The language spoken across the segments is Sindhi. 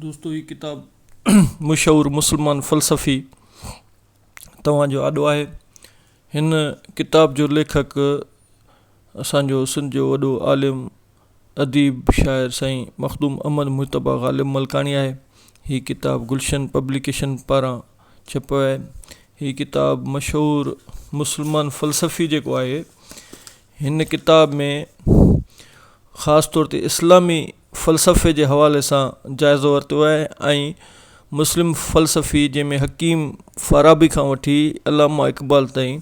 دوستو هي ڪتاب مشهور مسلمان فلسفي توهان جو آڏو آهي هن ڪتاب جو ليکڪ اسان جو سنڌ جو وڏو عالم اديب شاعر سائين مخدوم احمد مجتبا غالب ملڪاڻي آهي هي ڪتاب گلشن پبليڪيشن پاران ڇپيو آهي هي ڪتاب مشهور مسلمان فلسفي جيڪو آهي هن ڪتاب ۾ خاص طور تي اسلامي فلسفي جي حوالي سان جائزو ورتو آهي ۽ مسلم فلسفي جنهن ۾ حڪيم فارابي کان وٺي علامه اقبال تائين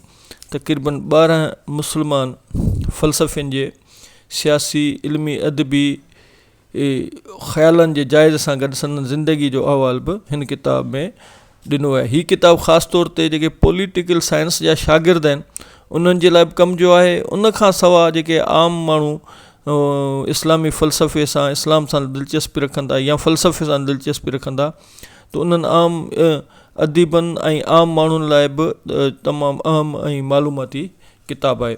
تقريباً ٻارهن مسلمان فلسفين جي سياسي، علمي، ادبي خيالن جي جائزي سان گڏ سندن زندگي جو احوال به هن ڪتاب ۾. ڏنو آهي هي ڪتاب خاص طور تي جيڪي پوليٽيڪل سائنس جا شاگرد آهن انهن جي لاء به ڪم جو آهي ان کان سوا جيڪي عام ماڻهو اسلامي فلسفي سان اسلام سان دلچسپي رکن ٿا يا فلسفي سان دلچسپي رکن ٿا ته انهن عام اديبن ۽ عام ماڻهن لاء به تمام اهم ۽ معلوماتي ڪتاب آهي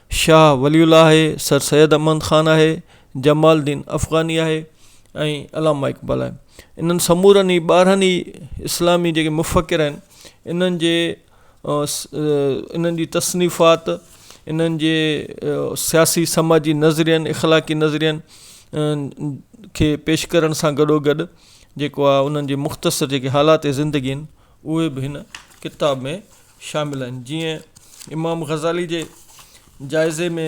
شاهه ولي الله آهي، سر سيد احمد خان آهي، جمال الدين افغاني آهي ۽ علامه اقبال آهي. انهن سمورن ئي ٻارهن ئي اسلامي جيڪي مفڪر آهن انهن جي انهن جي تصنيفات انهن جي سياسي سماجي نظرين اخلاقي نظرين کي پيش ڪرڻ سان گڏو گڏ جيڪو آهي انهن جي مختصر جيڪي حالات زندگي آهن اهي به هن ڪتاب ۾ شامل آهن جيئن امام غزالي جي جائزي ۾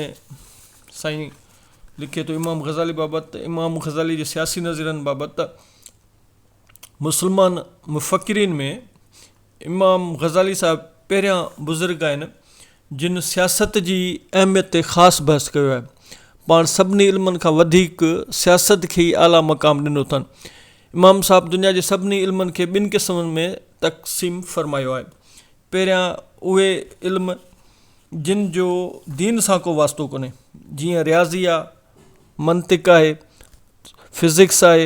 سائين لکي ٿو امام غزالي بابت امام غزالي جي سياسي نظرين بابت مسلمان مفڪرين ۾ امام غزالي صاحب پهريان بزرگ آهن جن سياست جي اهميت تي خاص بحث ڪيو آهي. پاڻ سڀني علمن کان وڌيڪ سياست کي ئي اعليٰ مقام ڏنو اٿن. امام صاحب دنيا جي سڀني علمن کي ٻن قسمن ۾ تقسيم فرمايو آهي. پهريان اهي علم جن جو دين سان ڪو واسطو ڪونهي، جيئن رياضي آهي، منطق آهي، فزڪس آهي،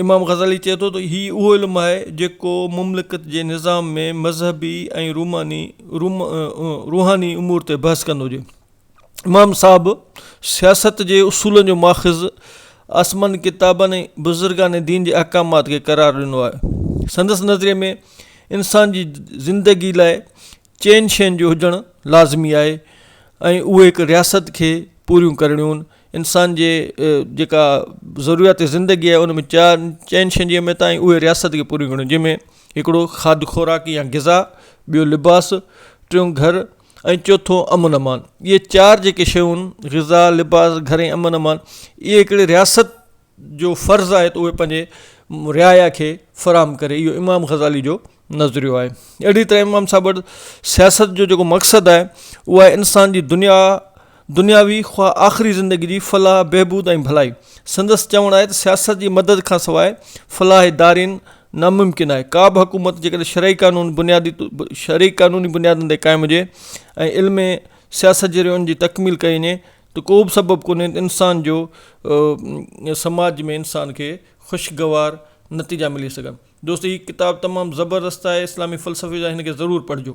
امام غزالي چئي ٿو ته هي اهو علم آهي جيڪو مملڪت جي نظام ۾ مذهبي ۽ روحاني امور تي بحث ڪندو هجي. امام صاحب سياست جي اصولن جو ماخذ آسماني ڪتابن ۽ بزرگان دين جي احڪامات کي قرار ڏنو آهي. سندس نظريي ۾ انسان جي زندگي لاء چئن شين جو هجڻ لازمي آهي ۽ اهي هڪ رياست کي پوريون ڪرڻيون انسان جي جيڪا ضروريات زندگي آهي ان ۾ چار چئن شين جي اهميت آهي اهي رياست کي پوريون ڪرڻ جنهن ۾ هڪڙو کاڌ خوراڪ يا غذا ٻيو لباس ٽيون گهر ۽ چوٿون امن امان اهي چار جيڪي شيون غذا لباس گهر ۽ امن امان اهي هڪڙي رياست جو فرض آهي ته اهي پنهنجي رعايا کي فراهم ڪري اهو امام غزالي جو نظريو آهي اهڙي طرح امام صاحب وٽ سياست جو جيڪو مقصد آهي اهو آهي انسان جي دنيا دنياوي خواه آخري زندگي جي فلاح بهبود ۽ ڀلائي سندس چوڻ آهي ته سياست جي مدد کان سواء فلاح دارين ناممڪن آهي ڪا به حڪومت جيڪڏهن شرعي قانون بنيادي شرعي قانوني بنيادن تي قائم هجي ۽ علم سياست جي ريون جي تڪميل ڪئي وڃي ته ڪوبه سبب ڪونهي ته انسان جو سماج ۾ انسان کي خوشگوار نتيجا ملي سگهن دوستو هي ڪتاب تمام زبردست آهي اسلامي فلسفي جا آهن هن کي ضرور پڙهجو.